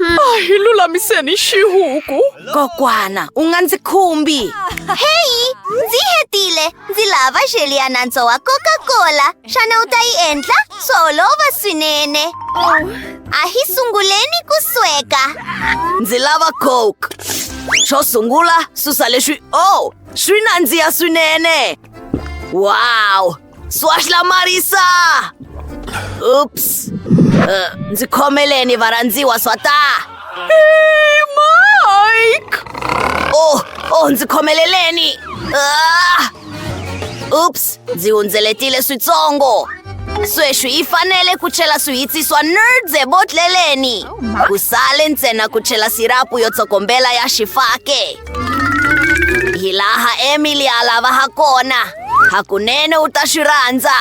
Ah, hi lulamiseni xihuku kokwana u nga ndzi khumbi heyi ndzi hetile ndzi lava xeli ya nantswo wa coca-cola xana u ta yi endla swo olova swinene a hi sunguleni ku sweka ndzi lava coke xo sungula susa leswi o oh, swi nandziha swinene wow Swash la Marisa! Oops. Uh, ndzi khomeleni varhandziwa swa ta. Hey, Mike! Oh, oh, ndzi khomeleleni. Ah! Oops, ndzi hundzeletile switsongo. Sweswi yi fanele ku chela swihitsi swa nerds ebotleleni. Ku sale ntsena ku chela sirapu yo tsokombela ya xifake. Hi laha Emily a lava ha kona. Hakunene u ta swi rhandza.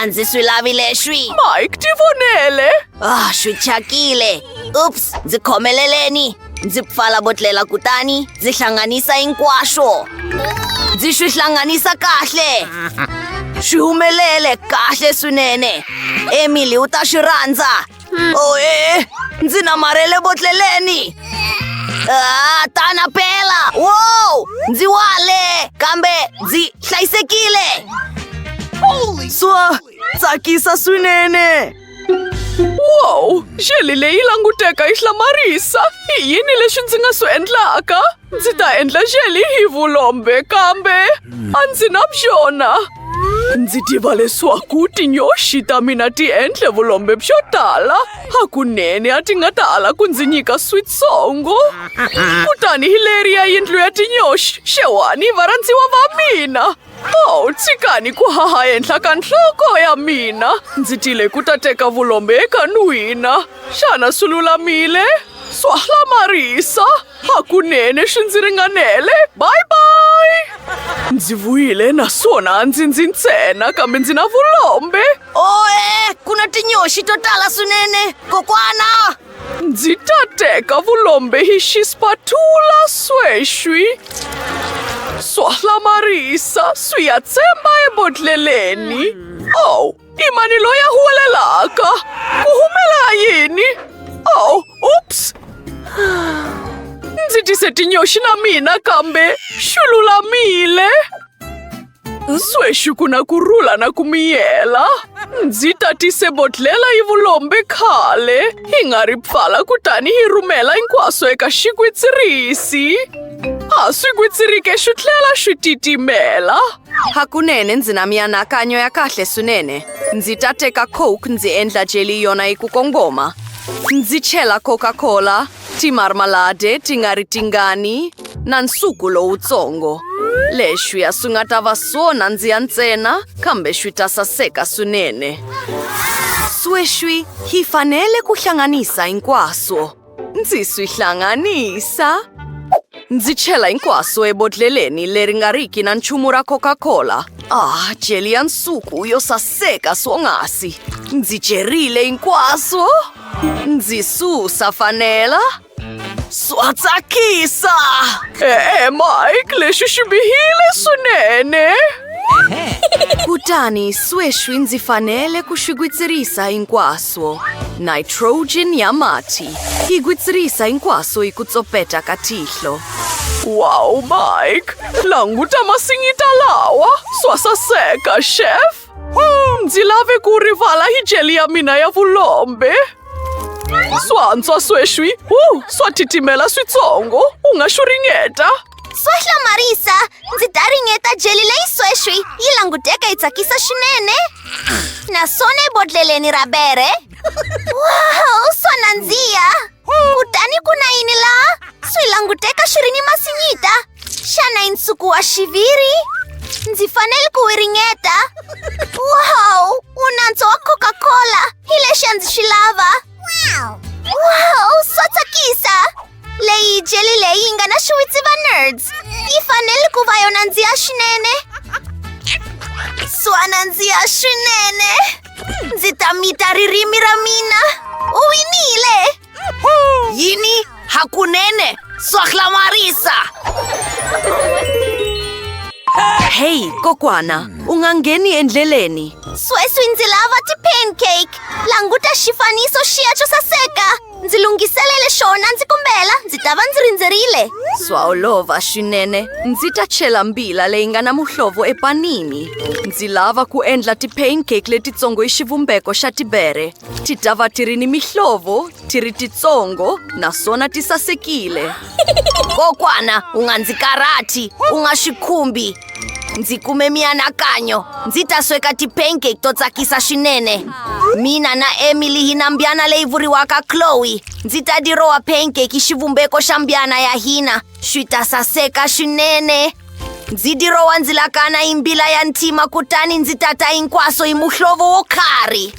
A ndzi swi lavi leswi. Mike, ti vonele. Ah, swi thyakile. Ups, ndzi khomeleleni. Ndzi pfala botlela kutani ndzi hlanganisa hinkwaswo. Ndzi swi hlanganisa kahle. Swi humelele kahle swinene. Emily u ta swi rhandza. Oye, ndzi namarhele botleleni Ah, tana pela wow ndzi wale kambe ndzi hlayisekile swa tsakisa swinene wow xeli leyi languteka yi hlamarisa i yini leswi ndzi nga swi endlaka Ndzi ta endla xeli hi vulombe kambe a ndzi na byona. Ndzi tiva leswaku tinyoxi ta mina ti endle vulombe byo tala. Hakunene a ti nga ta ala ku ndzi nyika switsongo. Kutani hi leri ya yindlu ya tinyoxi, xewani varhandziwa va mina. Oh, tshikani ku haha henhla ka nhloko ya mina ndzi tile ku ta teka vulombe eka n'wina xana swi lulamile swa hlamarisa hakunene swi ndzi ringanele bye bye ndzi vuyile naswona ndzi ndzi ntsena kambe ndzi na vulombe oe ku na tinyoxi to tala swinene kokwana Ndzi ta teka vulombe hi xispatula sweswi swa hlamarisa swi ya tsemba ebodleleni ow i mani loyi a huwelelaka ku humela yini ow ups ndzi tise tinyoxi na mina kambe xi lulamile Sweswi ku na ku rhula na ku miyela. Ndzi tatise bodlhela yi vulombe khale, hi nga ri pfala kutani hi rhumela hinkwaswo eka xigwitsirisi. A swi gwitsirike xi tlhela xi titimela. Hakunene ndzi na mianakanyo ya kahle swinene. Ndzi ta teka coke ndzi endla jeli yona yi ku kongoma. Ndzi chela Coca-Cola Timarmalade ti nga ri tingani na nsuku lowutsongo. Leswi a swi nga ta va swo nandziha ntsena kambe swi ta saseka swinene. Sweswi hi fanele ku hlanganisa hinkwaswo. Ndzi swi hlanganisa. Ndzi chela hinkwaswo ebodlheleni leri nga riki na nchumu ra Coca-Cola. Ah, jeli ya nsuku yo saseka swonghasi. Ndzi jerile hinkwaswo. Ndzi susa fanela. Swa tsakisa! E-e, Mike, lexi xi bihile swinene. Kutani sweswi ndzi fanele ku swi gwitsirisa hinkwaswo. Nitrogen ya mati yi gwitsirisa hinkwaswo hi ku tsopeta ka tihlo. Wow, Mike, languta masinyita lawa. Swa saseka, chef. Hmm, ndzi lave ku rivala hi jeli ya mina ya vulombe swantswa sweswi hu swa titimela switsongo u nga xu ringeta swa hlamarisa ndzi ta ringeta jeli leyi sweswi yi languteka yi tsakisa swinene naswona ebodleleni ra bere wow swa nandziha kutani ku na yini laha swi languteka swi ri ni masinyita xana i nsuku wa xiviri ndzi fanele ku wi ringeta wow wu nantswo wa coca-cola hi lexi a ndzi swi lava wow swa tsakisa leyi jeli leyi yi nga na xiwitsi va nerds yi fanele ku va yona ndziya swinene swa nandziya swinene Ndzi ta mita ririmi ra mina u winile yini hakunene swa hlamarisa heyi kokwana u nga ngheni endleleni sweswi ndzi lava ti-pancake languta xifaniso xiya xo saseka Ndzi lunghiselele xona ndzi kombela ndzi ta va ndzi rindzerile. Swa olova swinene. Ndzi ta chela mbila leyi nga na muhlovo epanini. Ndzi lava ku endla ti-pancake letitsongo hi xivumbeko xa tibere. Ti ta va ti ri ni mihlovo, ti ri titsongo naswona ti sasekile. kokwana u nga ndzi karhati u nga swi khumbi ndzi kume mianakanyo ndzi ta sweka tipancake to tsakisa swinene mina na emily hi na mbyana leyi vuriwaka chloe ndzi ta dirowa pancake xivumbeko xa mbyana ya hina swi ta saseka swinene ndzi dirowa ndzi lakana hi mbila ya ntima kutani ndzi tata hinkwaso hi muhlovo wo karhi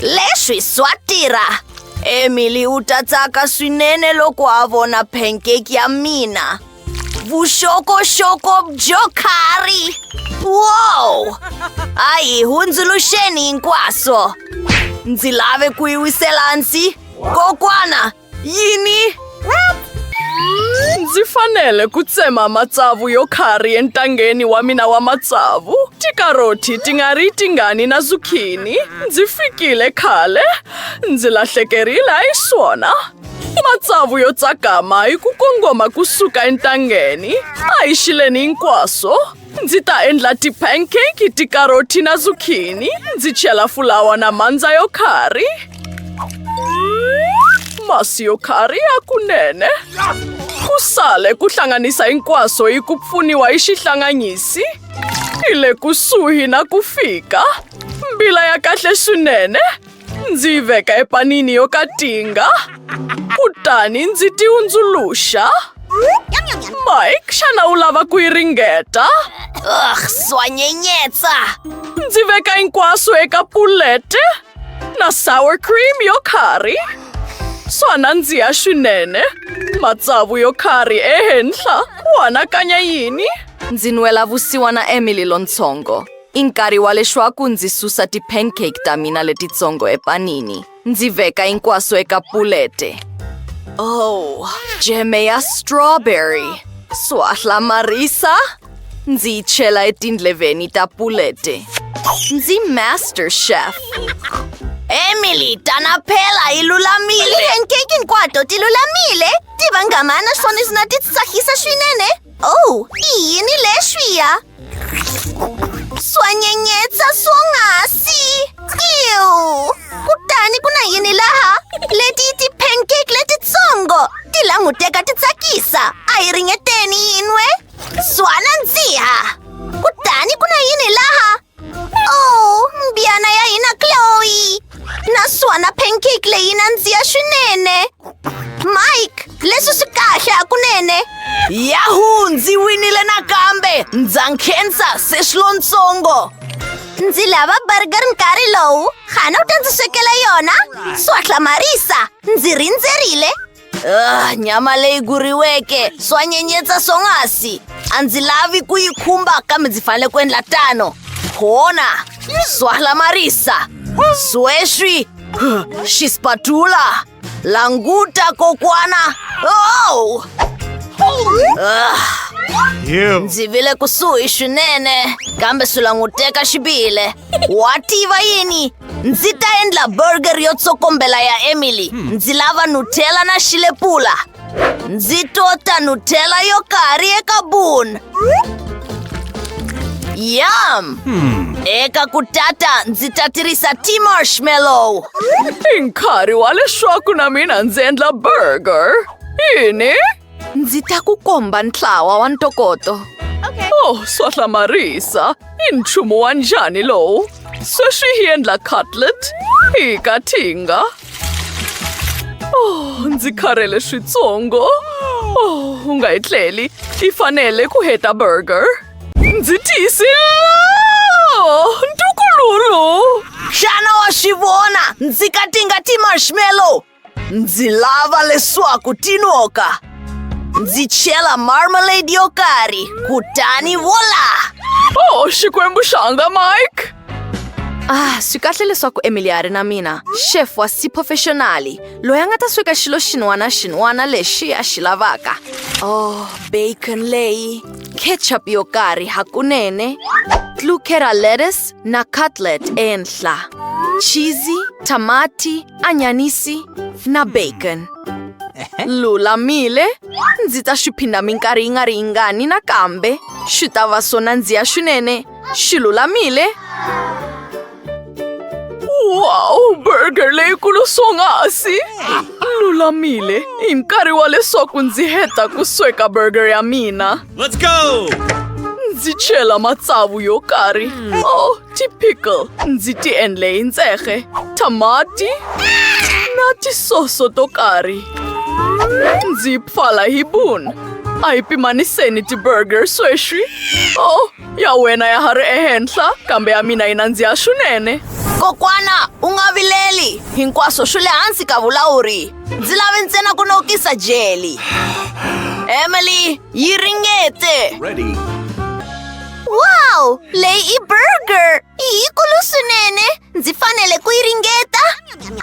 leswi swa tirha emily u ta tsaka swinene loko a vona pancake ya mina vuxokoxoko byo karhi wow a hi hundzuluxeni hinkwaso ndzi lave ku yi wisela hansi kokwana Yini? Ndzi fanele ku tsema matsavu yo khari entangeni wa mina wa matsavu. Tikaroti ti nga ri tingani na zukhini. Ndzi fikile khale. Ndzi lahlekerile a yi swona. Matsavu yo tsakama hi ku kongoma kusuka entangeni. A hi xileni hinkwaswo. Ndzi ta endla ti-pancake, tikaroti na zucchini. Ndzi chela fulawa na mandza yo khari. Masi yo khari ya kunene. Ku sale ku hlanganisa hinkwaswo hi ku pfuniwa hi xihlanganyisi. Hi le kusuhi na ku fika. Mbila ya kahle swinene. Ndzi yi veka epanini yo katinga kutani ndzi ti hundzuluxa. Mike, xana u lava ku yi ringeta? Ugh, swa nyenyetsa! Ndzi veka hinkwaswo eka pulete na sour cream yo curry. Swa nandziha swinene. Matsavu yo curry ehenhla. Ku anakanya yini? Ndzi nwela vusiwana Emily lontsongo. I nkarhi wa leswaku ndzi susa ti-pancake ta mina letitsongo epanini ndzi veka hinkwaswo eka pulete oh jeme ya strawberry swa hlamarisa ndzi yi chela etindleveni ta pulete ndzi master chef emily tana phela yi lulamile ti-pancake hinkwato ti lulamile ti vangama naswona swi na ti tsakisa swinene oh i yini leswiya Swanyenyetsa swonghasi! Ew! Kutani ku na yini laha? Leti i ti-pancake letitsongo! Ti languteka ti tsakisa! A hi ringeteni yin'we! Swana ndziha! Kutani ku na yini laha? Oh, mbyana ya hina Chloe! naswona pancake leyi yi nandziha swinene mike leswi swi kahle hakunene yahu ndzi winile nakambe ndza nkhensa se swilontsongo ndzi lava burger nkarhi lowu xana u ta ndzi swekela yona swa hlamarisa ndzi rindzerile Ah, nyama leyi guriweke swa nyenyetsa swonghasi a ndzi lavi ku yi khumba kambe ndzi fanele ku endla tano khona swa hlamarisa sweswi xi spatula languta kokwana oh! Ah, Ew. ndzi vile kusuhi swinene kambe swi languteka xi bihile wa tiva yini ndzi ta endla burger yo tsokombela ya emily hmm. ndzi lava nutella na xilepula ndzi tota nutella yo karhi eka bun yam hmm. eka ku tata ndzi ta tirhisa ti marshmallow i nkarhi wa leswaku na mina ndzi endla burger yini Ndzi ta ku komba ntlawa wa ntokoto. Okay. Oh, swa hlamarisa. I nchumu wa njhani lowu? Sweswi hi endla cutlet hi kathinga. Oh, ndzi kharhele switsongo. Oh, u nga yi tleli. Yi fanele ku heta burger. Ndzi tiyisile! Oh, ntukululu! Xana wa swi vona? Ndzi katinga ti-marshmallow Ndzi lava leswaku tinoka ndzi chela marmalade yo karhi kutani vola oh xikwembu xanga mike ah swi kahle leswaku emily a ri na mina chef wa siphofexonali loyi a nga ta sweka xilo xin'wana xin'wana lexi a xi lavaka oh bacon leyi ketchup yo karhi hakunene tlukera lettuce na cutlet ehenhla cheesy tamati Anyanisi na bacon lulamile ndzi ta swi phinda minkarhi yi nga ri yingani nakambe swi ta va swo nandziha swinene swi lulamile wow burger leyikulu swonghasi lulamile hi nkarhi wa leswaku ndzi heta ku sweka burger ya mina Let's go! ndzi chela matsavu yo karhi o oh, Ti-pickle ndzi ti endle hi ntsehge, thamati na tisoso to karhi. Ndzi yi pfala hi bun. A hi pimaniseni ti-burger sweswi. Oh, ya wena ya ha ri ehenhla, kambe ya mina yi nandziha swinene. Kokwana, u nga vileli. Hinkwaswo swi le hansi ka vulawuri. Ndzi lave ntsena ku nokisa jeli. Emily, yi ringete. Wow! Lei burger! Hi ku lu swinene! Ndzi fanele ku yi ringeta!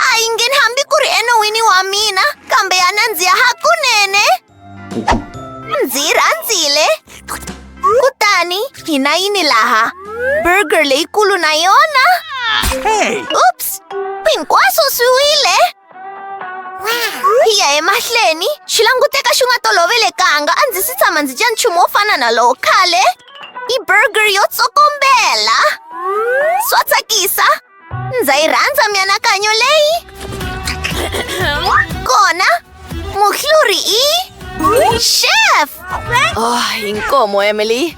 A yi ngheni hambi ku ri enon'wini wa mina, kambe ya nandziha hakunene! Ndzi yi rhandzile! Kutani, hi na yini laha? Burger leyikulu na yona? Oops! Hinkwaswo swi wile! hi ya emahlweni swi languteka swi nga tolovelekanga a ndzi si tshama ndzi dya nchumu wo fana na lowo khale i burger yo tsokombela swa tsakisa ndza yi rhandza mianakanyo leyi kona muhluri i chef oh, hi nkomo emily